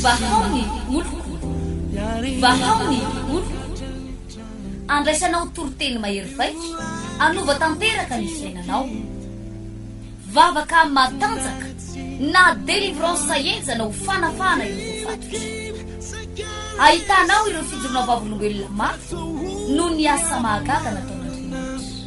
Vahao ny oloko, vahao ny oloko, andraisanao toriteny mahery vaika, anova tanteraka ny fiainanao. Vavaka matanjaka na délivrance henjana ho fanafahana ireo voafatotra. Ahitanao ireo fijoroana vavolombelona mafy noho ny asa mahagaga nataon'Andriamanitra.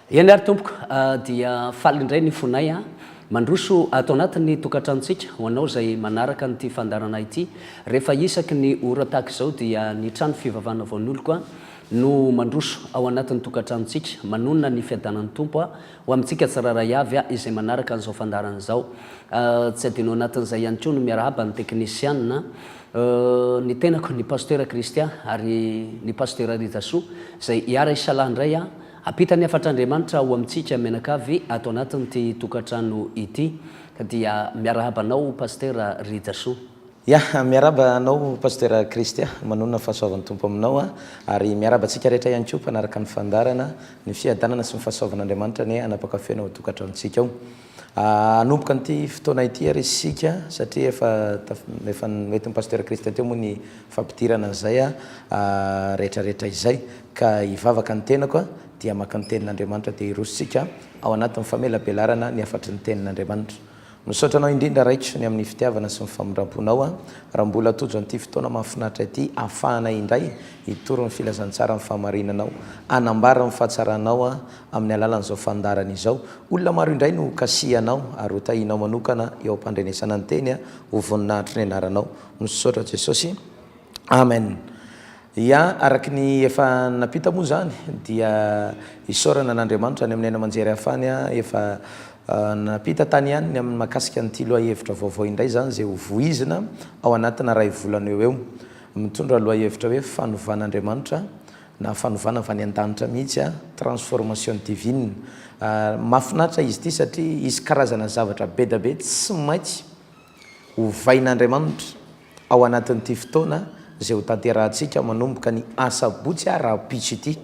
Eny ary tompoko a, dia faly indray ny fonay a. Mandroso ato anatin'ny tokantranontsika ho anao izay manaraka an'ity fandaharana ity. Rehefa isaky ny ora tahaka izao dia ny trano fivavahana Voan'oloko a no mandroso ao anatin'ny tokantranontsika. Manonona ny fiadanan'ny Tompo a ho amintsika tsirairay avy a izay manaraka an'izao fandaharana izao. Tsy adino anatin'izay ihany koa ny miarahaba ny teknisianina, ny tenako, ny Pasitera Christian ary ny Pasitera Rijasoa izay hiara-hisalahy indray a. Ampitan'ny hafatr'Andriamanitra ho amintsika mianakavy ato anatin'ity tokantrano ity dia miarahaba anao Pasitera Rijasoa. Ya, miarahaba anao Pasitera Christy a! Manonona ny fahasoavan'ny Tompo aminao a! Ary miarahaba antsika rehetra ihany koa mpanaraka ny fandaharana, ny fiadanana sy ny fahasoavan'Andriamanitra anie hanapaka feno ao an-tokantranontsika ao. Hanomboka an'ity fotoana ity ary isika satria efa efa noentin'i Pasteur Christian teo moa ny fampidirana an'izay rehetrarehetra izay ka hivavaka ny tenako dia maka ny tenin'Andriamanitra dia hirosontsika ao anatin'ny famelabelarana ny hafatry ny tenin'Andriamanitra. Misaotra anao indrindra Raiko ny amin'ny fitiavana sy ny famindramponao raha mbola tojo an'ity fotoana mahafinaritra ity ahafahanay indray hitory ny filazantsaran'ny fahamarinanao, hanambara ny fahatsaranao Amin'ny alalan'izao fandaharana izao, olona maro indray no hokasihanao ary hotahinao manokana eo am-pandrenesana ny teny ho voninahitry ny anaranao. Misaotra Jesosy. Amen. Ia, araka ny efa nampita moa izany dia isaorana an'Andriamanitra any amin'ny haino aman-jery hafany efa nampita tany ihany ny amin'ny mahakasika an'ity lohahevitra vaovao indray izany izay ho voizina ao anatina iray volana eo eo. Mitondra lohahevitra hoe Fanovan'Andriamanitra Na fanovana avy any an-danitra mihitsy a, transformation divine. Mahafinaritra izy ity satria hisy karazana zavatra be dia be tsy maintsy hovain'Andriamanitra ao anatin'ity fotoana izay hotanterahantsika manomboka ny asabotsy a rahampitso ity,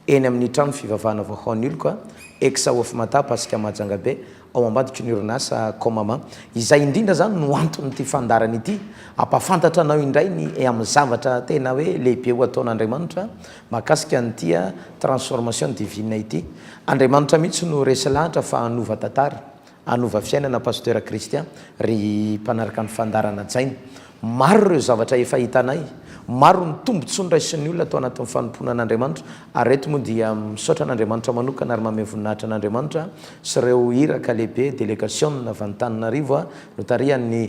eny amin'ny trano fivavahana Vahaohan'Iloko a, Ex Hofimatapa Asikamahajangabe, ao ambadiky ny orinasa Comama. Izay indrindra izany no anton'ity fandaharana ity, hampahafantatra anao indray ny eo amin'ny zavatra tena hoe lehibe ho ataon'Andriamanitra mahakasika an'ity transformation divine ity. Andriamanitra mihitsy no resy lahatra fa hanova tantara, hanova fiainana Pasteur Christian, ry mpanaraka ny fandaharana hajaina. Maro ireo zavatra efa hitanay, maro ny tombontsoa noraisin'ny olona tao anatin'ny fanompoana an'Andriamanitra, ary eto moa dia misaotra an'Andriamanitra manokana ary mamehy voninahitra an'Andriamanitra sy ireo iraka lehibe, delegasiona avy any Tananarivo notarihan'ny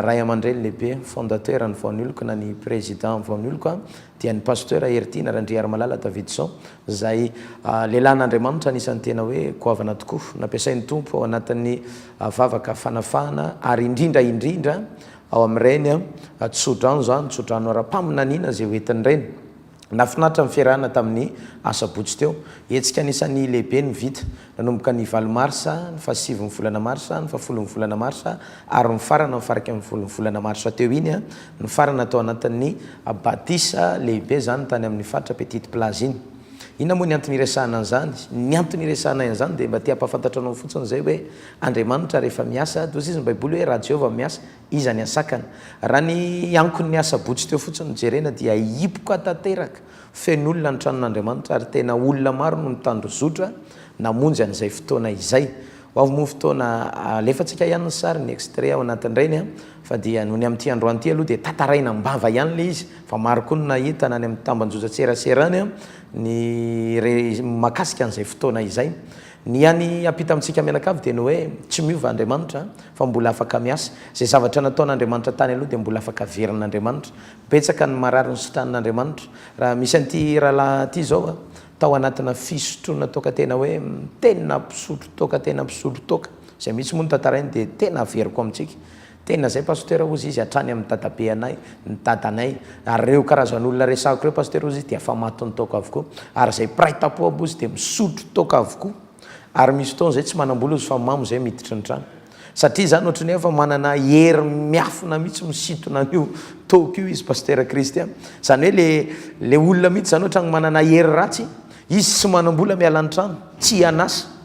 Ray aman-dReny lehibe, fondateur ny Vaonioloko na ny Président Vaonioloko dia ny Pasteur Heritiana Randriarimalala Davidson, izay lehilahin'Andriamanitra anisan'ny tena hoe goavana tokoa, nampiasain'ny Tompo ao anatin'ny vavaka fanafahana, ary indrindra indrindra ao amin'ireny tsodrano izany, tsodrano ara-paminaniana izay hoentiny ireny. Nahafinaritra ny fiarahana tamin'ny Asabotsy teo. Hetsika anisan'ny lehibe no vita. nanomboka ny valo marsa, ny fahasivy ny volana marsa, ny fahafolo ny volana marsa ary nifarana ny faraika ny folo ny volana marsa teo iny. Nifarana tao anatin'ny batisa lehibe izany tany amin'ny faritra Petite Plage iny. Inona moa ny antony iresahana an'izany? Ny antony iresahanay an'izany dia mba te hampahafantatra anao fotsiny izay hoe Andriamanitra rehefa miasa, dia hoy izy ny Baiboly hoe raha Jehovah miasa, iza ny hasakana? Raha ny ankon'ny asabotsy teo fotsiny no jerena dia hipoka tanteraka. Feno olona ny tranon'Andriamanitra ary tena olona maro no nitandrozotra namonjy an'izay fotoana izay. Ho avy moa ny fotoana alefantsika ihany ny sary, ny extrait ao anatin'ireny fa dia nony amin'ity androany ity aloha dia tantaraina am-bava ihany ilay izy fa maro koa no nahita na any amin'ny tambajotran-tserasera any ny re- mahakasika an'izay fotoana izay. Ny hany hampita amintsika mianakavy dia ny hoe tsy miova Andriamanitra fa mbola afaka miasa. Izay zavatra nataon'Andriamanitra tany aloha dia mbola afaka averin'Andriamanitra. Betsaka ny marary nosotranin'Andriamanitra. Raha misy an'ity rahalahy ity izao a, tao anatina fisotroana toaka tena hoe tena mpisotro toaka tena mpisotro toaka, izay mihitsy moa no tantarainy dia tena averiko amintsika. Tena izay Pasteur hozy izy hatrany amin'ny dadabe anay, ny dadanay. Ary ireo karazan'olona resahiko ireo Pasteur hozy izy dia efa matin'ny toaka avokoa. Ary izay mpiray tampo aby hozy dia misotro toaka avokoa. Ary misy fotoana izay tsy manam-bola hozy fa mamo izay miditra ny trano. Satria izany ohatry ny hoe efa manana hery miafina mihitsy misintona an'io toaka io izy Pasitera Kristy a. Izany hoe le le olona mihitsy izany ohatran'ny manana hery ratsy, izy tsy manam-bola miala ny trano, tsy hian'asa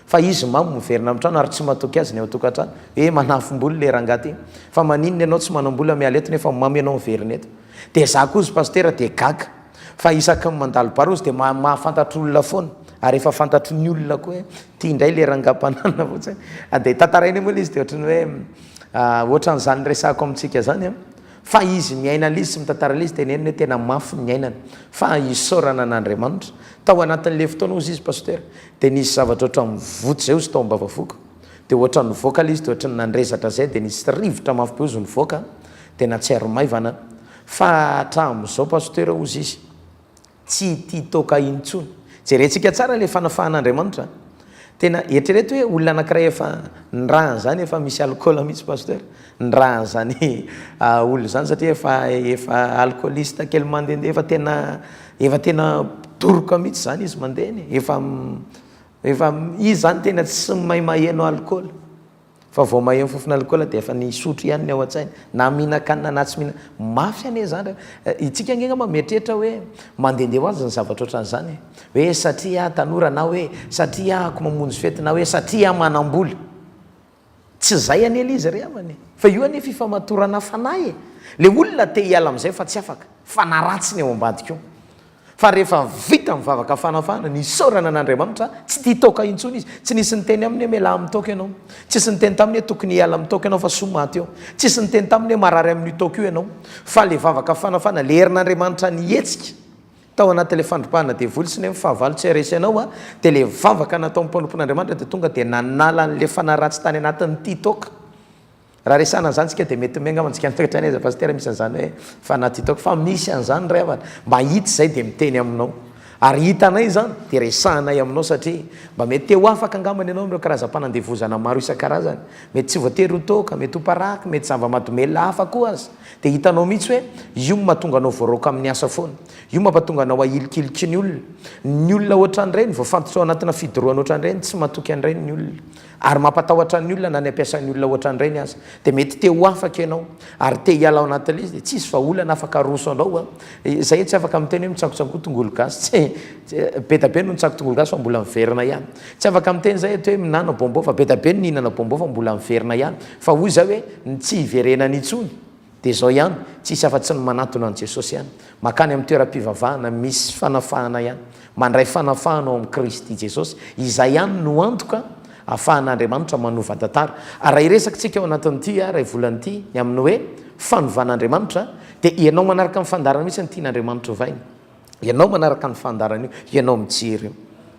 fa izy mamo miverina amin'ny trano ary tsy matoky azy ny ao an-tokantrano. Hoe manafom-bolo le rangahy ty. Fa maninona ianao tsy manam-bola miala eto nefa mamo ianao miverina eto. Dia za koa ozy Pasitera dia gaga. Fa isaky ny mandalo barôzy dia ma- mahafantatr' olona foana, ary efa fantatry ny olona koa hoe ty indray le rangampanana vao tsy hay, dia tantarainay moa ilay izy dia ohatran'ny hoe ohatran'izany resahako amintsika zany an, fa izy miaina an'ilay izy sy mitantara an'ilay izy teneniny hoe tena mafy ny niainany fa isaorana an'Andriamanitra. Tao anatin'ilay fotoana ozy izy Pasitera dia nisy zavatra ohatran'ny voto izay ozy tao am-bavafoko, dia ohatran'ny nivoaka ilay izy dia ohatran'ny nandrezatra izay dia nisy rivotra mafy be ozy nivoaka dia nahatsiaro maivana. Fa hatramin'izao Pasteur hozy izy tsy tia toaka intsony. Jerentsika tsara ilay fanafahan'Andriamanitra a! Tena eritrereto hoe olona anankiray efa nirahan' izany efa misy alcool mihitsy Pasteur nirahan' izany olona izany satria efa efa alcooliste kely mandehandeha efa tena efa tena doroka mihitsy izany izy mandeha eny e! efa efa izy izany tena tsy mahay maheno alcool. Fa vao maheno fofona alikaola dia efa ny hisotro ihany ny ao an-tsainy, na mihinan-kanina na tsy mihinan-kanina. Mafy anie izany re. Isika ange angamba mieritreritra hoe mandehandeha ho azy ny zavatra ohatran'izany e. Hoe satria aho tanora na hoe satria ahako mamonjy fety na hoe satria aho manam-bola. Tsy izay anie ilay izy re havana e. Fa io anie fifamatorana fanahy e. Ilay olona te hiala amin'izay fa tsy afaka. Fanahy ratsy ny ao ambadika ao. Fa rehefa vita ny vavaka fanafahana, ny isaorana an'Andriamanitra, tsy tia toaka intsony izy. Tsy nisy niteny aminy hoe mialà amin'ny toaka ianao. Tsisy niteny taminy hoe tokony hiala amin'ny toaka ianao fa soa maty eo. Tsisy niteny taminy hoe marary amin'io toaka io ianao. Fa ilay vavaka fanafahana, ilay herin'Andriamanitra nihetsika tao anatin'ilay fandrobahana devoly sy ny amin'ny fahavalo tsy haharesy anao, dia ilay vavaka nataon'ny mpanompon'Andriamanitra dia tonga dia nanala an'ilay fanahy ratsy tany anatin'ny tia toaka. Raha resahana an'izany tsika dia mety miainga ao antsika mitoetra any aiza Pasitera misy an'izany hoe fanahy tia taoko fa misy an'izany ray havana mba hita izay dia miteny aminao ary hitanay izany dia resahanay aminao satria mba mety te ho afaka angambany ianao amin'ireo karazam-panandevozana maro isan-karazany mety tsy voatery ho toaka mety ho paraky mety zava-madomelina hafa koa aza dia hitanao mihitsy hoe io no mahatonga anao voaraoka amin'ny asa foana io mampatonga anao ahilikiliky ny olona ny olona ohatran'ireny voafantotra ao anatina fidorohana ohatran'ireny tsy matoky an'ireny ny olona Ary mampatahotra ny olona na ny ampiasain'ny olona ohatran'ireny aza. Dia mety te ho afaka ianao, ary te hiala ao anatin'ilay izy, dia tsy hisy vahaolana afaka haroso anao an! Izay tsy afaka miteny hoe mitsakotsakoa tongolo gasy, tsy, be da be no nitsako tongolo gasy fa mbola miverina ihany. Tsy afaka miteny izay eto hoe minana bonbon fa be da be no nihinana bonbon fa mbola miverina ihany. Fa hoy izaho hoe, ny tsy hiverenany intsony. Dia izao ihany, tsy hisy afa-tsy ny manatona an'i Jesosy ihany, mankany amin'ny toeram-pivavahana misy fanafahana ihany, mandray fanafahana ao amin'i Kristy Jesosy. Izay ihany no antoka ahafahan'Andriamanitra manova tantara. Ary raha hiresaka isika ao anatin'ity iray volana ity ny amin'ny hoe Fanovan'Andriamanitra, dia ianao manaraka ny fandaharana misy ny Tian'Andriamanitra Ovaina. Ianao manaraka ny fandaharana io, ianao mijery io.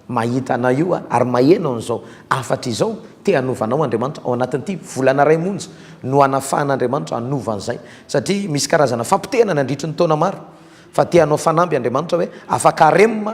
Mahita anao io Aho, ary maheno an'izao hafatra izao. Te hanova anao Andriamanitra, ao anatin'ity volana iray monja no hanafahan'Andriamanitra hanova an'izay. Satria misy karazana fampotehana nandritry ny taona maro, fa te hanao fanamby Andriamanitra hoe afaka harem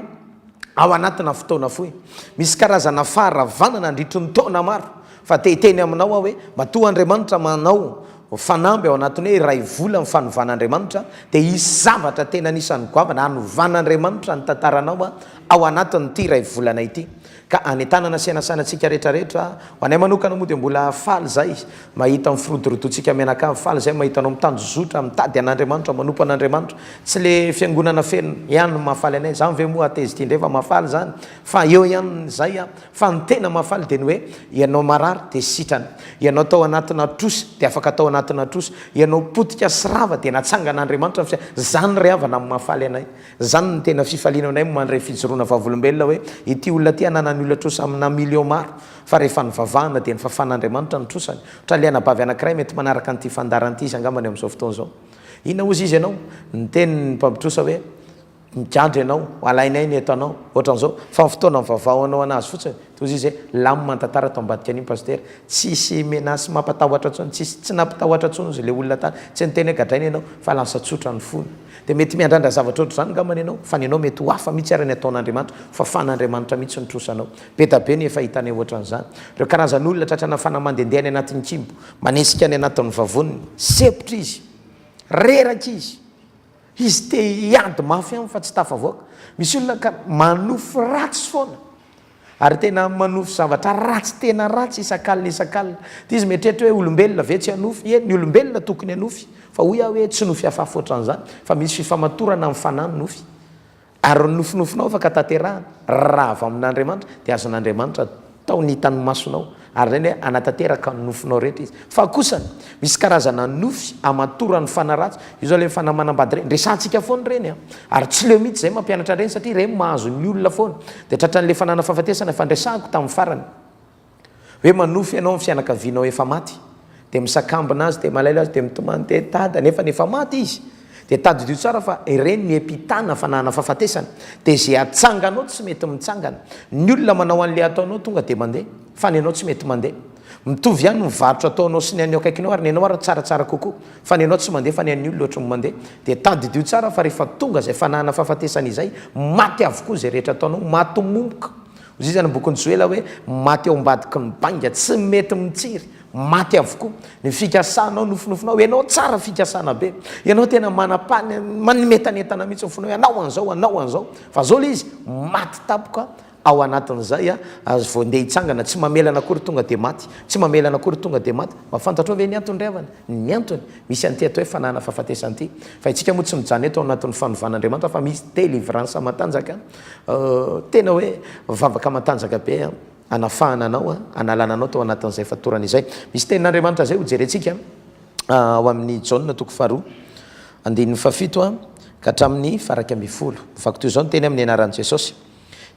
ao anatina fotoana fohy. Misy karazana faharavana nandritry ny taona maro, fa te hiteny aminao Aho hoe matoa Andriamanitra manao Fanamby ao anatin'ny hoe iray vola ny fanovan'Andriamanitra dia hisy zavatra tena anisan'ny goavana hanovan'Andriamanitra ny tantaranao ao anatin'ity iray volana ity ka hanentanana sy hanasana antsika rehetra rehetra, ho anay manokana moa dia mbola faly zay mahita mifirodorodontsika mianakavy, faly zay mahita anao mitanjozotra mitady an'Andriamanitra, manompo an'Andriamanitra, tsy le fiangonana feno ihany no mahafaly anay, zany ve moa atezity indray fa mahafaly zany fa eo ihany zay Fa ny tena mahafaly dia ny hoe, ianao marary dia sitrana, ianao tao anatina trosa dia afaka tao anatina trosa, ianao potika sy rava dia natsangan'Andriamanitra ny fiainanao. Izany re havana no mahafaly anay. Izany no tena fifaliana aminay mandray fijoroana vavolombelona hoe, ity olona ity ananany olona trosa amina millions maro, fa rehefa nivavahana dia nifafan'Andriamanitra ny trosany. Ohatra ilay anabavy anankiray mety manaraka an'ity fandaharana ity izy angamba ny amin'izao fotoana izao. Inona hozy izy ianao? Niteny ny mpampitrosa hoe. Migadra ianao, ho alainay ny etanao, ohatran'izao, fa ny fotoana mivavahanao an'azy fotsiny, toa izy hoe lamina ny tantara tao ambadika an'iny Pasitera, tsisy menace mampatahotra intsony, tsisy, tsy nampitahotra intsony ozy ilay olona tany, tsy niteny hoe gadraina ianao, fa lasa tsotra ny fony. Dia mety miandrandra zavatra ohatr'izany angamba ianao, fa ny anao mety ho hafa mihitsy ary ny ataon'Andriamanitra, ho fafan'Andriamanitra mihitsy no trosanao. Be da be ny efa hitanay ohatran'izany. Ireo karazan'olona tratra nafana mandendeha any anatin'ny kibo, manesika any anatin'ny vavoniny, sempotra izy, reraka izy, Izy te hiady mafy ihany fa tsy tafavoaka. Misy olona ka manofy ratsy foana ary tena manofy zavatra ratsy tena ratsy isak'alina isak'alina. Dia izy mieritreritra hoe olombelona ve tsy hanofy? Ie, ny olombelona tokony hanofy fa hoy aho hoe tsy nofy hafahafa ohatran'izany fa misy fifamatorana amin'ny fanahy ny nofy. Ary ny nofinofinao afaka tanterahana, raha avy amin'Andriamanitra, dia azon'Andriamanitra atao ny hitan'ny masonao, ary izay dia hanatanteraka ny nofinao rehetra Izy. Fa kosa, misy karazana nofy hamatoran'ny fanahy ratsy, io izao ilay fanahy manambady ireny, resahantsika foana ireny an! Ary tsy leo mihitsy izay mampianatra an'ireny, satria ireny mahazo ny olona foana. Dia tratran'ilay fananam-fahafatesana, efa niresahako tamin'ny farany. Hoe manofy ianao ny fianakavianao efa maty, dia misakambina azy, dia malaelo azy, dia mitomany dia dada, nefa efa maty izy. Dia tadidio tsara fa ireny ny epitana fanahana fahafatesana. Dia izay atsanganao tsy mety mitsangana. Ny olona manao an'ilay ataonao tonga dia mandeha, fa ny anao tsy mety mandeha. Mitovy ihany ny varotra ataonao sy ny an'ny eo akaikinao ary ny anao ary tsaratsara kokoa, fa ny anao tsy mandeha fa ny an'ny olona ohatran'ny mandeha. Dia tadidio tsara fa rehefa tonga izay fanahana fahafatesana izay, maty avokoa izay rehetra ataonao, maty momoka. Hoy izy any bokin'i Joela hoe, Maty ao ambadiky ny bainga, tsy mety mitsiry, maty avokoa. Ny fikasanao, nofinofinao, ianao tsara fikasana be. Ianao tena manam-pan, manimetanetana mihitsy ny fonao hoe hanao an'izao, hanao an'izao. Fa izao ilay izy, maty tampoka ao anatin'izay, ary vao ndeha hitsangana, tsy mamelana akory tonga dia maty, tsy mamelana akory tonga dia maty. Mba fantatrao ve ny antony ry havana? Ny antony? Misy an'ity atao hoe fananana fahafatesana ity. Fa isika moa tsy mijanona eto ao anatin'ny fanovan'Andriamanitra fa misy délivrance matanjaka. Tena hoe vavaka matanjaka be hanafahana anao, hanalana anao tao anatin'izay fatorana izay. Misy tenin'Andriamanitra izay hojerentsika ao amin'ny Jaona toko faharoa, andininy fahafito ka hatramin'ny faharaika ambin'ny folo. Vaky toy izao ny teny amin'ny anaran'i Jesosy.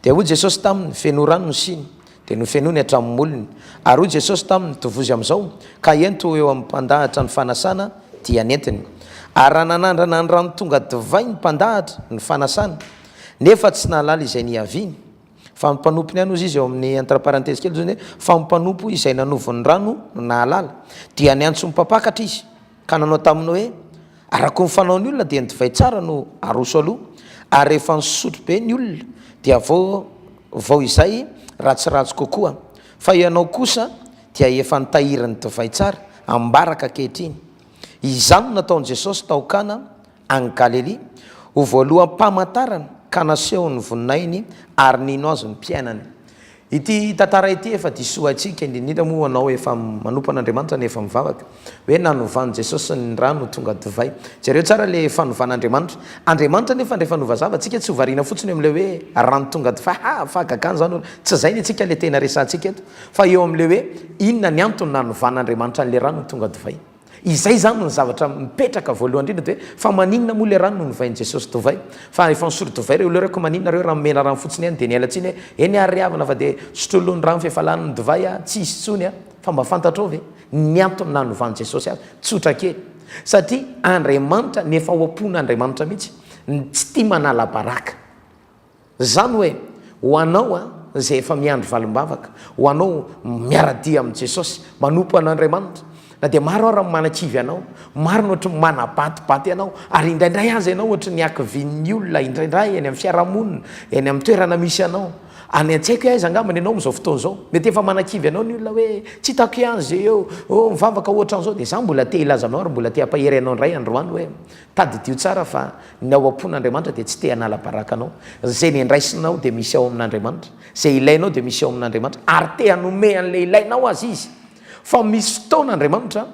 Dia hoy Jesosy taminy, Fenoy rano ny siny. Dia nofenoiny hatramin'ny molony. Ary hoy Jesosy taminy, Tovozy amin'izao, ka ento eo amin'ny mpandahatra ny fanasana dia nentiny. Ary raha nanandrana ny rano tonga divay ny mpandahatra ny fanasana, Nefa tsy nahalala izay niaviany. Fa ny mpanompo ny any ozy izy eo amin'ny entre parenthèse kely ozy fa ny mpanompo izay nanovo ny rano no nahalala. Dia niantso ny mpampakatra izy ka nanao taminy hoe, Arako ny fanaon'ny olona dia ny divay tsara no aroso aloha, ary rehefa nisotro be ny olona dia vao vao izay ratsiratsy kokoa. Fa ianao kosa dia efa nitahiry ny divay tsara ambaraka ankehitriny. Izany no nataon'i Jesosy tao Kana Any Galilia, ho voaloham-pamantarana ka nasehony ny voninahiny ary nino azy ny mpiainany. Ity tantara ity efa diso haintsika, indrindra indrindra moa ho anao efa manompo an'Andriamanitra no efa mivavaka, hoe nanovan'i Jesosy ny rano tonga divay. Jereo tsara ilay fanovan'Andriamanitra. Andriamanitra anefa ndray fanova zava, tsika tsy ho variana fotsiny eo amin'ilay hoe rano tonga divay, ha! fahagagana izany hono. Tsy izay ny antsika ilay tena resahantsika eto, fa eo amin'ilay hoe inona ny antony nanovan'Andriamanitra an'ilay rano ho tonga divay. Izay izany no zavatra mipetraka voalohany indrindra dia hoe fa maninona moa ilay rano no novain'i Jesosy divay? Fa efa nisolo divay ireo olona ireo ka maninona ireo raha nomena rano fotsiny ihany dia niala tsiny hoe eny ary ry havana fa dia sotrolony rano fa efa lany ny divay a! Tsy hisy intsony a! Fa mba fantatrao ve ny antony nanovan'i Jesosy azy? Tsotra kely. Satria Andriamanitra ny efa ho am-pon'Andriamanitra mihitsy tsy tia manala baraka. Izany hoe, ho anao izay efa miandry valim-bavaka, ho anao miara-dia amin'i Jesosy, manompo an'Andriamanitra, na dia maro ara ny manakivy anao, maro ny ohatry ny manabatybaty anao, ary indraindray aza ianao ohatry ny akivian'ny olona indraindray eny amin'ny fiarahamonina, eny amin'ny toerana misy anao. Any an-tsaiko aiza angambany ianao amin'izao fotoana izao. Mety efa manakivy anao ny olona hoe, tsy hitako ihany izay eo, oh, mivavaka ohatran'izao, dia izaho mbola te hilaza anao ary mbola te hampahery anao indray androany hoe, Tadidio tsara fa ny ao am-pon'Andriamanitra dia tsy te hanala baraka anao. Izay nendraisinao dia misy ao amin'Andriamanitra. Izay ilainao dia misy ao amin'Andriamanitra. Ary te hanome an'ilay ilainao azy Izy. Fa misy fotoana Andriamanitra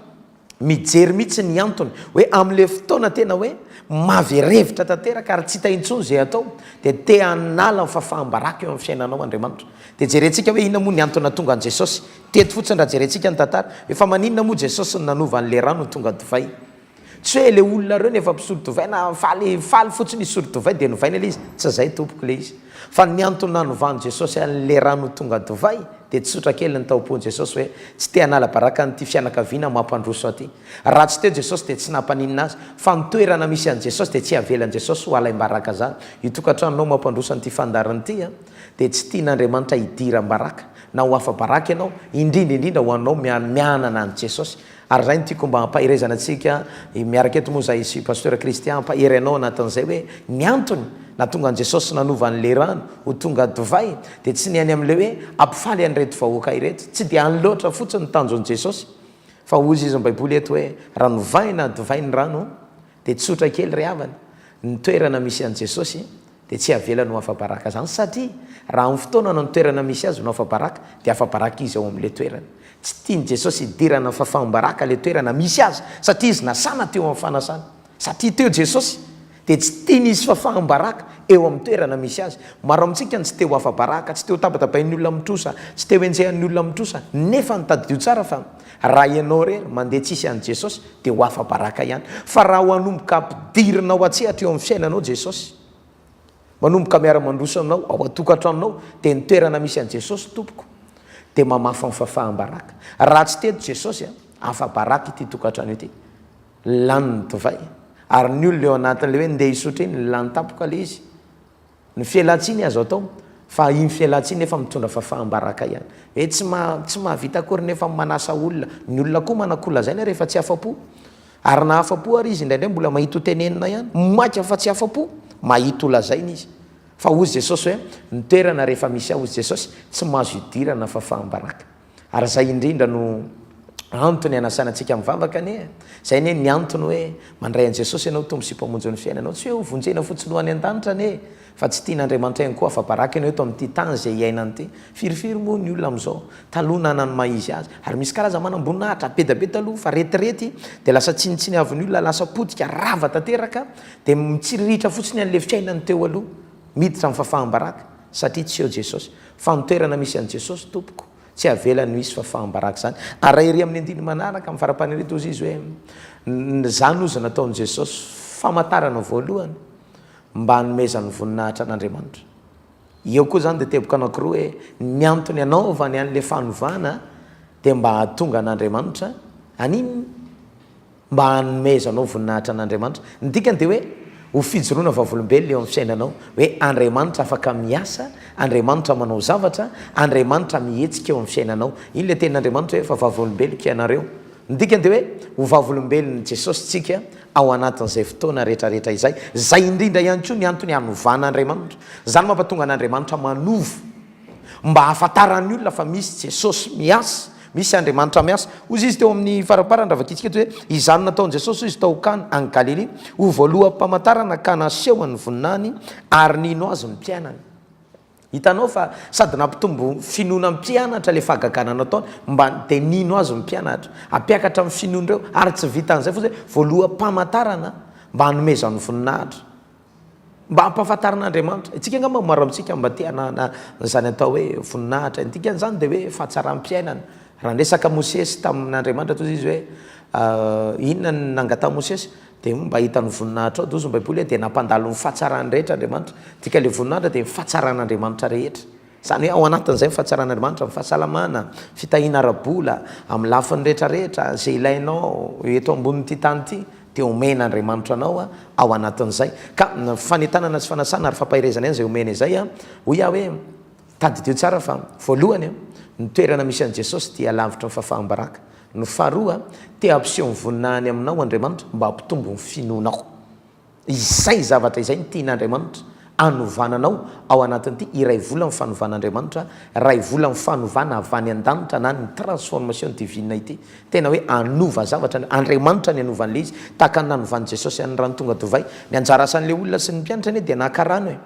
mijery mihitsy ny antony hoe amin'ilay fotoana tena hoe maverevitra tanteraka ary tsy hita intsony izay atao dia te hanala ny fahafaham-baraka eo amin'ny fiainanao Andriamanitra. Dia jerentsika hoe inona moa ny antony nahatonga an'i Jesosy. Teto fotsiny raha jerentsika ny tantara. Hoe fa maninona moa Jesosy no nanova an'ilay rano ho tonga divay. Tsy hoe le olona reo no efa mpisolo divay na faly faly fotsiny hisolo divay de novaina le izy, tsy zay tompoko le izy fa ny antony nanovan'i Jesosy an le rano ho tonga divay de tsotra kely ny taompon Jesosy hoe tsy te hanala baraka an'ity fianakaviana mampandroso aty. Raha tsy teo Jesosy de tsy nampaninona azy fa ny toerana misy an'i Jesosy de tsy havelan'i Jesosy ho halaim-baraka zany io tokantranonao mampandroso an'ity fandaharana ity an de tsy tian'Andriamanitra hidiram-baraka na ho afa-baraka ianao indrindra indrindra ho anao mianana an'i Jesosy Ary zay no tiako mba hampaherezana antsika miaraka eto moa zay sy Pasteur Christian hampahery anao anatin'izay hoe ny antony nahatonga an'i Jesosy nanova an'ilay rano ho tonga divay dia tsy ny any amin'ilay hoe hampifaly an'ireto vahoaka ireto, tsy dia any loatra fotsiny ny tanjon'i Jesosy fa hoy izy ny Baiboly eto hoe raha novahina divay ny rano Dia tsotra kely ry havana, ny toerana misy an'i Jesosy dia tsy avelany ho afa-baraka izany satria raha amin'ny fotoana na ny toerana misy Azy no afa-baraka dia afa-baraka Izy ao amin'ilay toerana. Tsy tian'i Jesosy hidirana fa faham-baraka ilay toerana misy Azy satria Izy nasana teo amin'ny fanasana. Satria teo Jesosy dia tsy tiany hisy fa faham-baraka eo amin'ny toerana misy Azy. Maro amintsika no tsy te ho afa-baraka, tsy te ho tabatabain'ny olona amin'ny trosa, tsy te ho enjehan'ny olona amin'ny trosa nefa ny tadidio tsara fa. Raha ianao irery mandeha tsisy an'i Jesosy dia ho afa-baraka ihany. Fa raha ho hanomboka hampidirina ao an-tsehatra eo amin'ny fiainanao Jesosy, manomboka miara-mandroso anao ao an-tokantranonao dia ny toerana misy an'i Jesosy tompoko dia mamafa ny fafaham-baraka. Raha tsy teto Jesosy an, afa-baraka ity tokantrano ity. Lany ny divay ary ny olona eo anatin'ilay hoe ndeha hisotro iny lany tampoka ilay izy. Ny fialantsiny azo atao fa iny fialantsiny nefa mitondra fafaham-baraka ihany. Hoe tsy maha, tsy mahavita akory nefa manasa olona. Ny olona koa manan-ko lazaina rehefa tsy afa-po. Ary na afa-po ary izy indraindray mbola mahita ho tenenina ihany. Maika fa tsy afa-po. Mahita ho lazaina izy. Fa hoy Jesosy hoe, ny toerana rehefa misy ahy hoy Jesosy, tsy mahazo idirana fafaham-baraka. Ary izay indrindra no antony hanasana antsika mivavaka anie e! Izay anie ny antony hoe mandray an'i Jesosy ianao ho Tompo sy Mpamonjin'ny fiainanao. Tsy hoe ho vonjena fotsiny ho any an-danitra anie e! Fa tsy tian'Andriamanitra ihany koa afa-baraka ianao eto amin'ity tany izay iainany ity. Firifiry moa ny olona amin'izao taloha nana ny maha izy azy. Ary misy karazany manam-boninahitra be dia be taloha fa retirety dia lasa tsinontsiny avy ny olona, lasa potika, rava tanteraka dia mitsiriritra fotsiny an'ilay fiainany teo aloha miditra amin'ny fahafaham-baraka. Satria tsy eo Jesosy. Fa ny toerana misy an'i Jesosy tompoko, tsy havelany ho hisy fahafahambaraka izany. Ary raha ery amin'ny andininy manaraka, amin'ny farampanery toa izy hoe, Ny izany hozy nataon'i Jesosy famantarana voalohany mba hanomezany voninahitra an'Andriamanitra. Eo koa izany dia teboka anankiroa hoe, ny antony anaovany an'ilay fanovana dia mba hahatonga an'Andriamanitra haninona? mba hanomezanao voninahitra an'Andriamanitra. Ny dikany dia hoe ho fijoroana vavolombelona eo amin'ny fiainanao, hoe Andriamanitra afaka miasa, Andriamanitra manao zavatra, Andriamanitra mihetsika eo amin'ny fiainanao. Iny ilay tenin'Andriamanitra hoe efa vavolombeloko ianareo. Ny dikany dia hoe ho vavolombelon'i Jesosy isika ao anatin'izay fotoana rehetrarehetra izay. Izay indrindra ihany koa ny antony hanovana Andriamanitra. Izany mampatonga an'Andriamanitra manova. Mba hahafantaran'ny olona fa misy Jesosy miasa, misy Andriamanitra miasa. Hozy izy teo amin'ny faraparany raha vakintsika eto hoe, Izany nataon'i Jesosy hoy izy tao Kana any Galilia, ho voaloham-pamantarana ka nasehony ny voninahiny, ary nino azy ny mpianany. Hitanao fa sady nampitombo finoana ny mpianatra ilay fahagagana nataony, mba dia nino azy ny mpianatra. Hampiakatra ny finoan'ireo, ary tsy vitan'izay fotsiny hoe voaloham-pamantarana mba hanomezany voninahitra. Mba hampahafantarana Andriamanitra. Isika angamba maro amintsika mba te hanana an'izany atao hoe voninahitra ny dikany izany dia hoe fahatsaram-piainana. Raha niresaka Mosesy tamin'Andriamanitra toa izy hoe inona no nangatahan'i Mosesy dia mba hahita ny voninahitrao dia hoy ny Baiboly hoe dia nampandalo ny fahatsarany rehetra Andriamanitra. Dika ilay voninahitra dia ny fahatsaran'Andriamanitra rehetra. Izany hoe ao anatin'izay ny fahatsaran'Andriamanitra, ny fahasalamana, fitahiana ara-bola, amin'ny lafiny rehetra rehetra, izay ilainao eto ambonin'ity tany ity dia omen'Andriamanitra anao ao anatin'izay. Ka fanentanana sy fanasana ary fampaherezana ihany izay omena izay. Hoy aho hoe, tadidio tsara fa, voalohany, ny toerana misy an'i Jesosy dia lavitry ny fahafaham-baraka. Ny faharoa, te hampiseho ny voninahiny aminao Andriamanitra mba hampitombo ny finoanao. Izay zavatra izay no tian'Andriamanitra hanovana anao ao anatin'ity iray volan'ny fanovan'Andriamanitra, iray volan'ny fanovana avy any an-danitra na ny transformation divine ity. Tena hoe hanova zavatra ny Andriamanitra ny hanaovany ilay izy, tahaka ny nanovan'i Jesosy an'ny rano tonga divay. Ny anjara asan'ilay olona sy ny mpianatra anie dia nakarano e.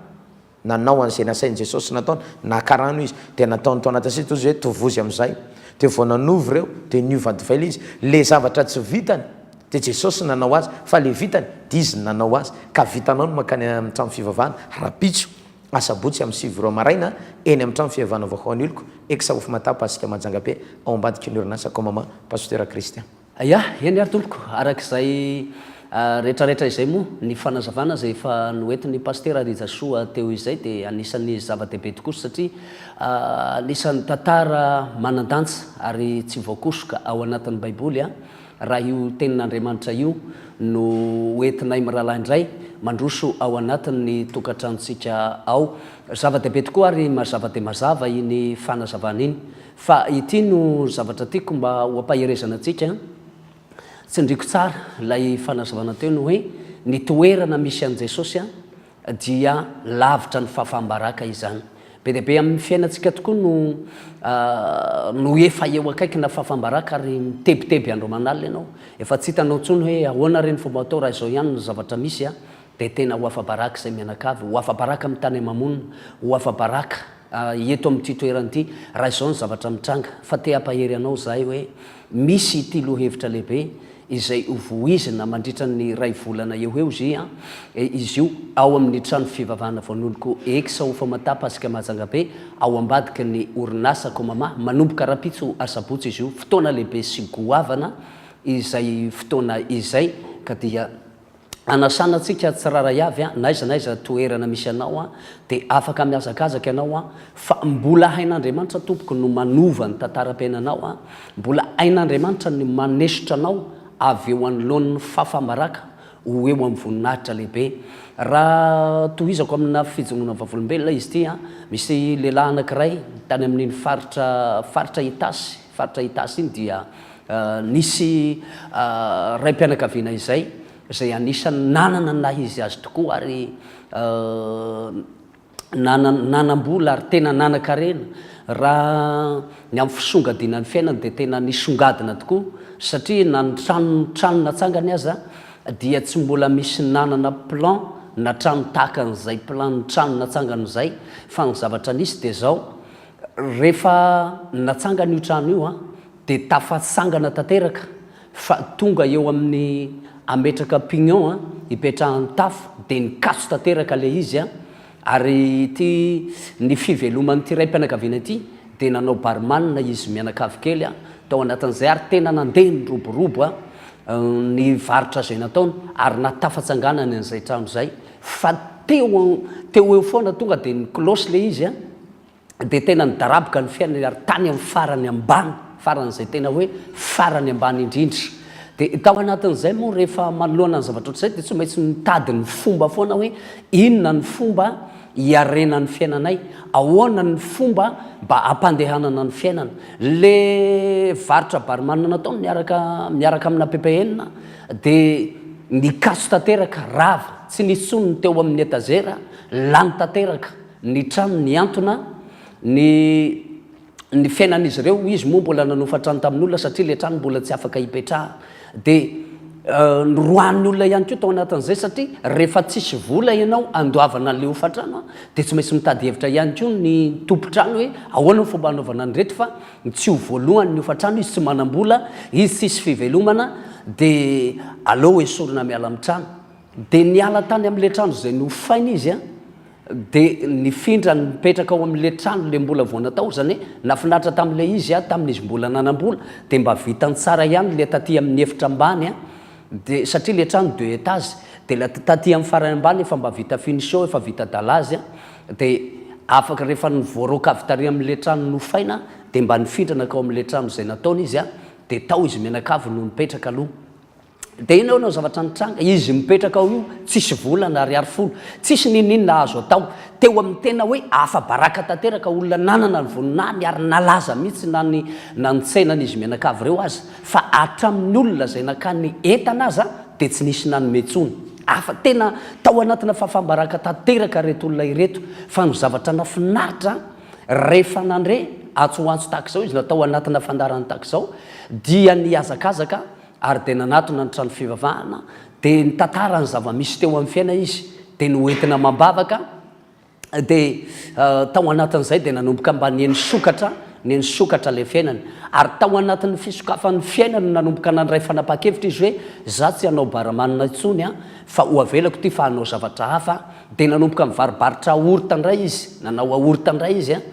Nanao an'izay nasain'i Jesosy nataony, naka rano izy, dia nataony tao anatin'ny siny, toy izay hoe, Tovozy amin'izay. Dia vao nanovo ireo, dia niova divay izy. Ilay zavatra tsy vitany, dia Jesosy nanao azy, fa ilay vitany, dia Izy nanao azy. Ka vitanao ny mankany amin'ny trano fivavahana, rahampitso, asabotsy amin'ny sivy ora maraina, eny amin'ny trano fivavahana vaohaon'oloko, Ex. Hoffmatapa, Asika Majanga Be, ao ambadiky ny orinasa Comama, Pasitera Christian. Aia, eny ary tompoko, araka izay retraretra izay moa, ny fanazavana izay efa noentin'ny Pasitera Rijasoa teo izay dia anisan'ny zava-dehibe tokoa satria anisan'ny tantara manan-danja ary tsy voakosoka ao anatin'ny Baiboly raha io Tenin'Andriamanitra io no hoentinay mirahalahy indray mandroso ao anatin'ny tokantranontsika ao. Zava-dehibe tokoa ary mazava dia mazava iny fanazavana iny Fa ity no zavatra tiako mba ho ampaherezana antsika, tsindriako tsara ilay fanazavana teo ny hoe ny toerana misy an'i Jesosy dia lavitra ny fahafaham-baraka izany. Be dia be amin'ny fiainantsika tokoa no no efa eo akaikina fahafaham-baraka ary mitebiteby andro aman'alina ianao. Efa tsy hitanao intsony hoe ahoana re ny fomba atao raha izao ihany ny zavatra misy. Dia tena ho afa-baraka izay mianakavy, ho afa-baraka amin'ny tany aman-monina, ho afa-baraka eto amin'ity toerana ity, raha izao ny zavatra mitranga. Fa te hampahery anao izahay hoe misy ity lohahevitra lehibe izay ho voizina mandritra ny iray volana eo ho eo izia izy io ao amin'ny trano fivavahana voan'oloko ex ao Famata Pasika Mahajanga-be ao ambadiky ny orinasa Comama. Manomboka rahampitso asabotsy izy io. Fotoana lehibe sy goavana izay fotoana izay ka dia. Anasana antsika tsirairay avy an, n'aiza n'aiza toerana misy anao an, dia afaka mihazakazaka ianao an, fa mbola hain'Andriamanitra tompoko no manova ny tantaram-piainanao an, mbola hain'Andriamanitra ny manesotra anao avy eo anoloan'ny fafa-baraka ho eo amin'ny voninahitra lehibe. Raha tohizako amina fijongoana vavolombelona izy ity an, misy lehilahy anankiray tany amin'iny faritra faritra Itasy, Faritra Itasy iny dia nisy raim-pianakaviana izay, izay anisan'ny nanana ny naha izy azy tokoa ary nanana nanam-bola ary tena nanan-karena. Raha ny amin'ny fisongadinan'ny fiainany dia tena nisongadina tokoa satria na ny trano trano natsangany aza dia tsy mbola misy nanana plan na trano tahaka an'izay plan-n'ny trano natsangany izay fa ny zavatra nisy dia izao, Rehefa natsangana io trano io dia tafatsangana tanteraka fa tonga eo amin'ny hametraka pignon hipetrahan'ny tafo dia nikatso tanteraka ilay izy ary ity ny fiveloman'ity raim-pianakaviana ity dia nanao barman izy mianakavy kely tao anatin'izay ary tena nandeha niroborobo ny varotra izay nataony ary nahatafantsanganany an'izay trano izay fa teo eo foana tonga dia niklosy ilay izy dia tena nidaraboka ny fiainany ary tany amin'ny farany ambany, faran'izay tena hoe farany ambany indrindra. Dia tao anatin'izay moa rehefa manoloana ny zavatra ohatr'izay dia tsy maintsy mitady ny fomba foana hoe inona ny fomba hiarena ny fiainanay, ahoana ny fomba mba hampandehanana ny fiainana. Le varotra barman nataony niaraka miaraka amina ppn dia nikaso tanteraka, rava, tsy nisy intsony ny teo amin'ny etazera, lany tanteraka. ny trano nihantona, ny ny fiainan'izy ireo, hoy izy moa mbola nanofa trano tamin'olona satria ilay trano mbola tsy afaka hipetrahana. Dia noroahan'ny olona ihany koa tao anatin'izay satria rehefa tsisy vola ianao handoavana an'ilay hofan-trano a, dia tsy maintsy mitady hevitra ihany koa ny tompon-trano hoe ahoana ny fomba hanaovana an'ireto fa tsy ho voalohany ny hofan-trano, izy tsy manam-bola, izy tsisy fivelomana dia aleo esorina miala amin'ny trano. Dia niala tany amin'ilay trano izay nofaina izy, dia nifindra nipetraka ao amin'ilay trano ilay mbola vao natao, izany hoe nahafinaritra tamin'ilay izy tamin'izy mbola nanam-bola, dia mba vitany tsara ihany ilay taty amin'ny efitra ambany, dia satria ilay trano deux étages, dia ilay taty amin'ny farany ambany efa mba vita finition, efa vita dalazy, dia afaka rehefa voaraoka avy tary amin'ilay trano nofaina, dia mba nifindra nakao amin'ilay trano izay nataony izy, dia tao izy mianakavy no nipetraka aloha. Dia iny ao no zavatra nitranga, izy mipetraka ao io, tsisy vola na ariary folo, tsisy ninoninona azo atao. Teo amin'ny tena hoe afa-baraka tanteraka, olona nanana ny voninahiny ary nalaza mihitsy na ny na ny tsenan'izy mianakavy ireo aza. Fa hatramin'ny olona izay nankany entana aza dia tsy nisy nanome intsony. Afa, tena tao anatina fahafam-baraka tanteraka ireto olona ireto. Fa ny zavatra nafinaritra, rehefa nandre antso ho antso tahaka izao izy na tao anatina fandaharana tahaka izao, dia nihazakazaka ary dia nanatona ny trano fivavahana, dia nitantara ny zava-misy teo amin'ny fiainany izy, dia noentina amam-bavaka, dia tao anatin'izay dia nanomboka mba nihaino sokatra, nihaino sokatra ilay fiainany, ary tao anatin'ny fisokafan'ny fiainany no nanomboka nandray fanapahan-kevitra izy hoe, za tsy hanao baramanina intsony an, fa ho avelako ity fa hanao zavatra hafa, dia nanomboka nivaribaritra aorta indray izy, nanao aorta indray izy an,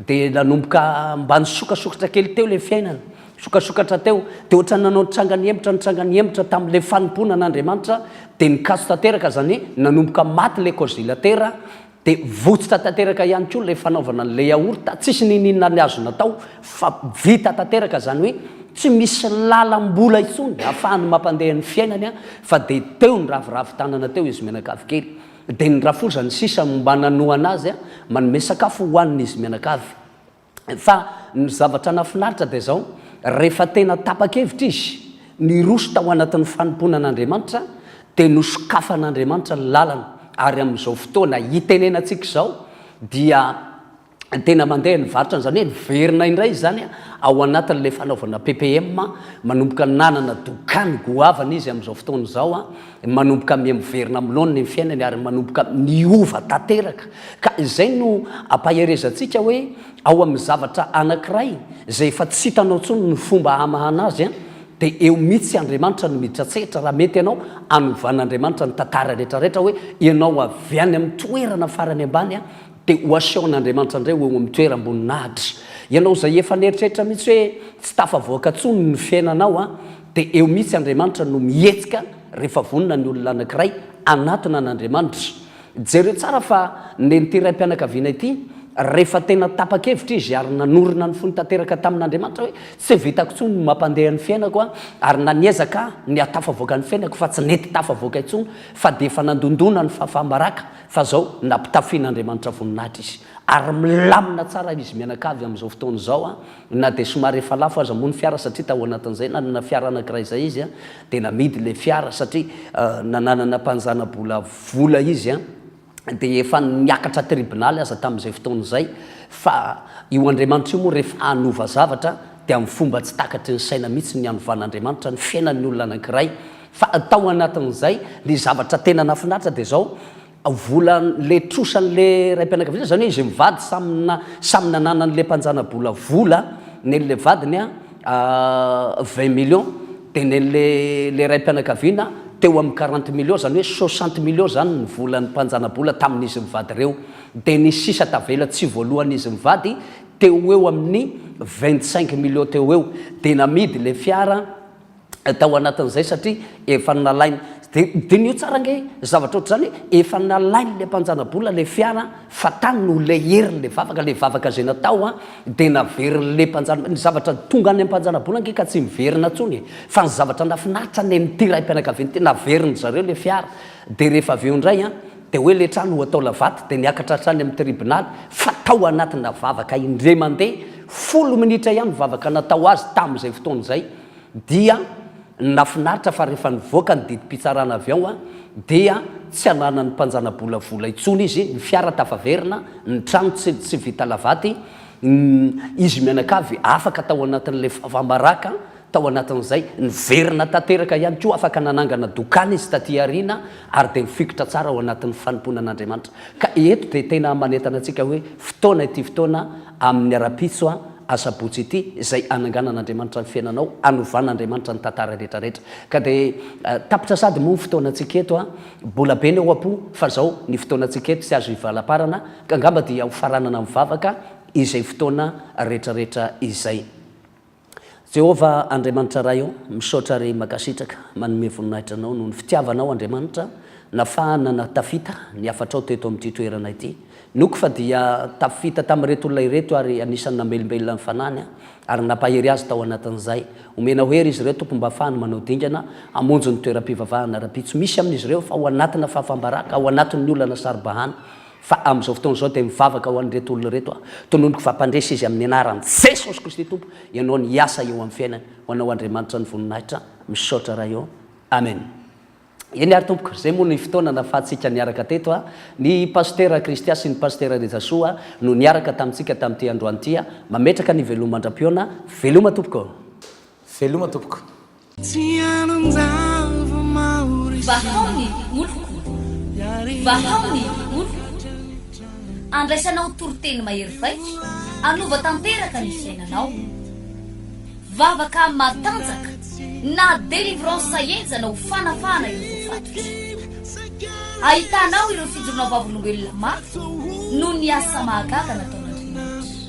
dia nanomboka mba nisokasokatra kely teo ilay fiainany. Sokasokatra teo, dia ohatran'ny nanao ny trangany hemotra ny trangany hemotra tamin'ilay fanompoana an'Andriamanitra, dia nikaso tanteraka izany, nanomboka maty ilay kozilatera, dia votsitra tanteraka ihany koa ilay fanaovana an'ilay yaourt, tsisy niniana ny azo natao, fa vita tanteraka izany hoe tsy misy lalam-bola intsony ahafahany mampandeha ny fiainany, fa dia teo niraviravy tanana teo izy mianakavy kely, dia nirafozany sisa mba nanohana azy manome sakafo hohanin'izy mianakavy. Fa ny zavatra nahafinaritra dia izao, rehefa tena tapa-kevitra izy, niroso tao anatin'ny fanompoana an'Andriamanitra, dia nosokafan'Andriamanitra ny lalana, ary amin'izao fotoana itenenantsika izao dia tena mandeha ny varotrany, izany hoe niverina indray izany ao anatin'ilay fanaovana ppm, manomboka nanana dokany goavana izy amin'izao fotoana izao. Manomboka miha-miverina amin'ny laoniny ny fiainany ary manomboka miova tanteraka. Ka izay no ampaherezantsika hoe ao amin'ny zavatra anankiray izay efa tsy hitanao intsony ny fomba hamahana azy an, dia eo mihitsy Andriamanitra no miditra an-tsehatra raha mety ianao hanovan'Andriamanitra ny tantara rehetrarehetra hoe ianao avy any amin'ny toerana farany ambany an, dia ho asehon'Andriamanitra indray ho eo amin'ny toeram-boninahitra. Ianao izay efa nieritreritra mihitsy hoe tsy tafavoaka intsony ny fiainanao an, Dia eo mihitsy Andriamanitra no mihetsika rehefa vonona ny olona anankiray hanatona an'Andriamanitra. Jereo tsara fa nen'ity raim-pianakaviana ity, rehefa tena tapa-kevitra izy ary nanorina ny fony tanteraka tamin'Andriamanitra hoe, Tsy vitako intsony ny mampandeha ny fiainako aho, ary na niezaka aho ny hahatafavoaka ny fiainako fa tsy nety tafavoaka intsony, fa dia efa nandondona ny fahafaha-baraka, fa izao nampitafian'Andriamanitra voninahitra izy. Ary milamina tsara izy mianakavy amin'izao fotoana izao. Na dia somary efa lafo aza moa ny fiara satria tao anatin'izay nanana fiara anankiray izay izy dia namidy ilay fiara satria nananana mpanjana-bola vola izy dia efa niakatra tribonaly aza tamin'izay fotoana izay fa io Andriamanitra io moa rehefa hanova zavatra dia amin'ny fomba tsy takatry ny saina mihitsy ny hanovan'Andriamanitra ny fiainan'ny olona anankiray fa tao anatin'izay ny zavatra tena nahafinaritra dia izao vola le trosan le raimpianakaviana zany hoe izy mivady samy na samy nananany le mpanjana bola vola nen le vadiny a vingt millions de nen le le raimpianakaviana teo aminy quarante millions zany hoe soixante millions zany ny volany mpanjana bola taminy izy mivady reo de ny sisa tavela tsy voalohany izy mivady teo eo aminy vingt cinq millions teo eo de namidy le fiara tao anatin'izay satria efa nalainy. Dia diniho tsara ange zavatra ohatr'izany hoe efa nalain'ilay mpanjanabola ilay fiara fa tany no leherin'ilay vavaka, ilay vavaka izay natao dia naverin'ilay mpanjana, ny zavatra tonga any am-panjanabola ange ka tsy miverina intsony e! Fa ny zavatra nahafinaritra ny an'ity raim-pianakaviana ity, naverin'ny zareo ilay fiara dia rehefa avy eo indray an, dia hoe ilay trano ho atao lavaty dia niakatra hatrany amin'ny tribonaly fa tao anatina vavaka indray mandeha, folo minitra ihany ny vavaka natao azy tamin'izay fotoana izay. dia nafinaritra fa rehefa nivoaka ny didim-pitsarana avy ao dia tsy ananan'ny mpanjanabola vola intsony izy, ny fiara tafaverina, ny trano tsy tsy vita lavaty, izy mianakavy afaka tao anatin'ilay faham-baraka tao anatin'izay, niverina tanteraka ihany koa, afaka nanangana dokany izy taty aoriana ary dia nifikitra tsara ao anatin'ny fanompoana an'Andriamanitra. Ka eto dia tena manentana antsika hoe fotoana ity fotoana, Amin'ny ara-pitso a, asabotsy ity, izay hananganan'Andriamanitra ny fiainanao, hanovan'Andriamanitra ny tantara retraretra. Ka dia tapitra sady moa ny fotoanantsika eto a, bola be ny ao am-po, fa zao, ny fotoanantsika eto tsy azo ivalamparana, ka angamba dia hofaranana mivavaka izay fotoana retraretra izay. Jéhovah Andriamanitra Ray ô, misaotra re makasitraka manome voninahitra anao noho ny fitiavanao Andriamanitra nafahana na tafita ny hafatrao teto amin'ity toerana ity noko fa dia tafita tamin'ireto olona ireto ary anisany namelombelona ny fanahiny ary nampahery azy tao anatin'izay omenao hery izy ireo Tompo mba afahany manao dingana hamonjy ny toeram-pivavahana raha-pitso misy amin'izy ireo fa ao anatina fahafam-baraka ao anatin'ny olana saro-bahana Fa amin'izao fotoana izao dia mivavaka ho an'ireto olona ireto aho. Tononiko fa hampandresy izy amin'ny anaran'i Jesosy Kristy Tompo ianao ny hiasa eo amin'ny fiainany. Ho anao Andriamanitra ny voninahitra. Misaotra Ray ô. Amen. Eny ary tompoko, izay moa ny fotoana nahafahantsika niaraka teto a. Ny Pasitera Christian sy ny Pasitera Rijasoa no niaraka tamintsika tamin'ity androany ity a. Mametraka ny veloma mandram-pihaona. Veloma tompoko. Veloma tompoko. Vahao ny oloko, vahao ny oloko, andraisanao toriteny mahery vaika, hanova tanteraka ny fiainanao. Vavaka matanjaka na délivrance henjana ho fanafahana ireo voafatotra. Ahitanao ireo fijoroana vavolombelona mafy noho ny asa mahagaga nataon'Andriamanitra.